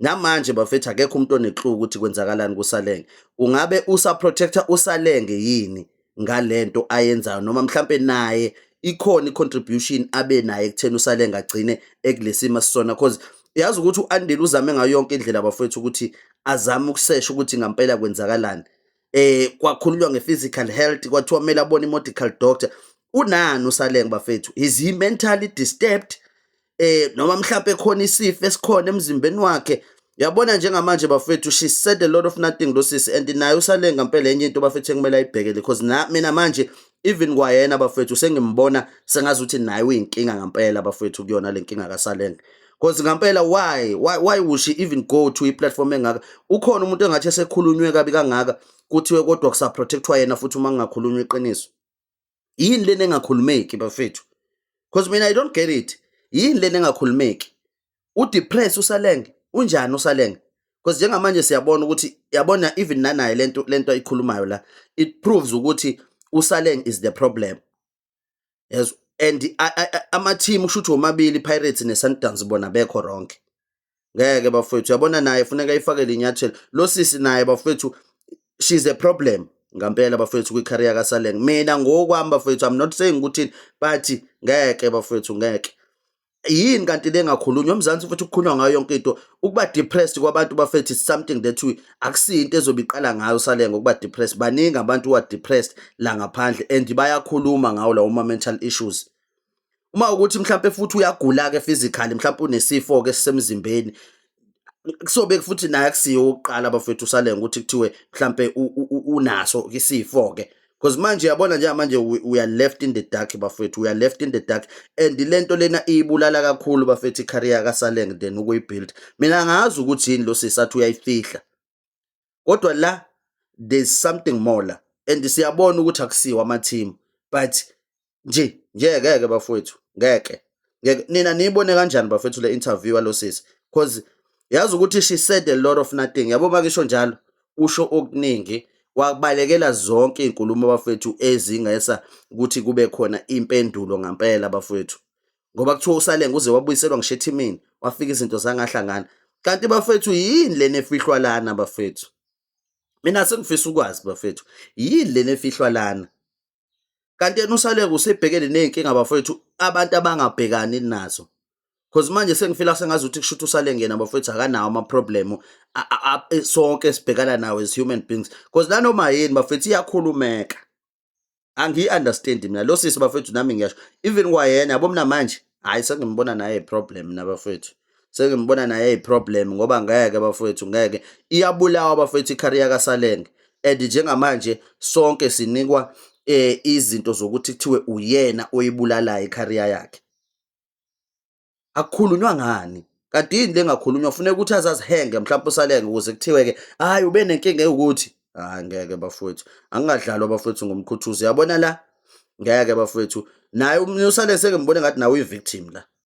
namanje bafethu akekho umuntu oneclue ukuthi kwenzakalani kusalenge ungabe usaprotector usalenge yini ngalento ayenzayo noma mhlampe naye ikhona i-contribution abe naye ekutheni usalenge agcine ekulesima sisona cause yazi ukuthi u-andile uzame ngayo yonke indlela bafethu ukuthi azame ukusesha ukuthi ngampela kwenzakalani eh kwakhulunywa nge-physical health kwathiwa kumele abone i-medical doctor unani usalenge bafethu is he mentally disturbed eh noma mhlawumbe khona isifo esikhona emzimbeni wakhe yabona njengamanje bafethu she said a lot of nothing lo sisi and naye usale ngempela enye into bafethu ekumele ayibhekele because na mina manje even kwayena bafethu sengimbona sengazi ukuthi naye uyinkinga ngempela bafethu kuyona le nkinga kasalenge because ngempela why why why would she even go to i-platform engaka ukhona umuntu engathi esekhulunywe kabi kangaka kuthiwe kodwa kusaprotectwa yena futhi uma ngingakhulunywa iqiniso yini lena engakhulumeki bafethu because mina i don't get it yini lena engakhulumeki udepress usalenge unjani usalenge because njengamanje siyabona ukuthi yabona even nanaye lento lento ayikhulumayo la it proves ukuthi usaleng is the problem yes and ama team kushuthi omabili pirates ne sundowns bona bekho wrong ngeke bafowethu yabona naye funeka ifakele inyathelo lo sisi naye bafowethu she's a problem ngampela bafowethu kwi-career kasaleng mina ngokwami bafowethu i'm not saying ukuthi but ngeke bafowethu ngeke yini kanti le ngakhulunywa umzansi futhi kukhulunywa ngayo yonke into ukuba depressed kwabantu bafethu is something that we akusiyo into ezobe iqala ngayo salenga ukuba depressed baningi abantu wa depressed la ngaphandle and bayakhuluma ngawo lawo ma mental issues uma ukuthi mhlawumbe futhi uyagula ke physically mhlawumbe unesifo ke sisemzimbeni kusobe futhi naye akusiyo oqala bafethu usalenga ukuthi kuthiwe mhlambe unaso isifo ke because manje yabona nje manje we are left in the dark bafethu we are left in the dark and lento lena ibulala kakhulu bafethu icareer kasaleng then ukuyibuild mina ngazi ukuthi yini lo sisathi uyayifihla kodwa la there's something more la and siyabona ukuthi akusiwa ama team but nje nje ngeke bafowethu ngeke ngeke nina niyibone kanjani bafethu le interview yalosisi because yazi ukuthi she said a lot of nothing yabo makisho njalo usho okuningi wabalekela zonke izinkulumo bafethu ezingesa ukuthi kube khona impendulo ngempela bafethu ngoba kuthiwa usalenga uze wabuyiselwa ngisho ethimini wafika izinto zangahlangana kanti bafethu yini lena efihlwa lana bafethu mina sengifisa ukwazi bafethu yini lena efihlwa lana kanti yena usalenga usebhekene nezinkinga bafethu abantu abangabhekani nazo Cause manje sengifila sengazi ukuthi kushuthi usale ngena bafethu akanawo ama problem sonke sibhekana nawo as human beings. Cause nanoma yini bafethu iyakhulumeka. angiyi understand mina lo sisi bafethu nami ngiyasho even kwayena yabo mina manje hayi sengimbona naye problem mina bafethu sengimbona naye iproblem ngoba ngeke bafethu ngeke iyabulawa bafethu icareer kaSalenge and njengamanje sonke sinikwa eh izinto zokuthi kuthiwe uyena oyibulalayo icareer yakhe akukhulunywa ngani kanti yini lengakhulunywa funeka ukuthi azazihenge mhlawumbe usalenge ukuze kuthiwe-ke hhayi ube nenkinga ewukuthi hhayi ngeke bafowethu angingadlalwa bafowethu ngomkhuthuzi yabona la ngeke bafowethu naye umnusale sengembone ngathi nawe uyi-victim la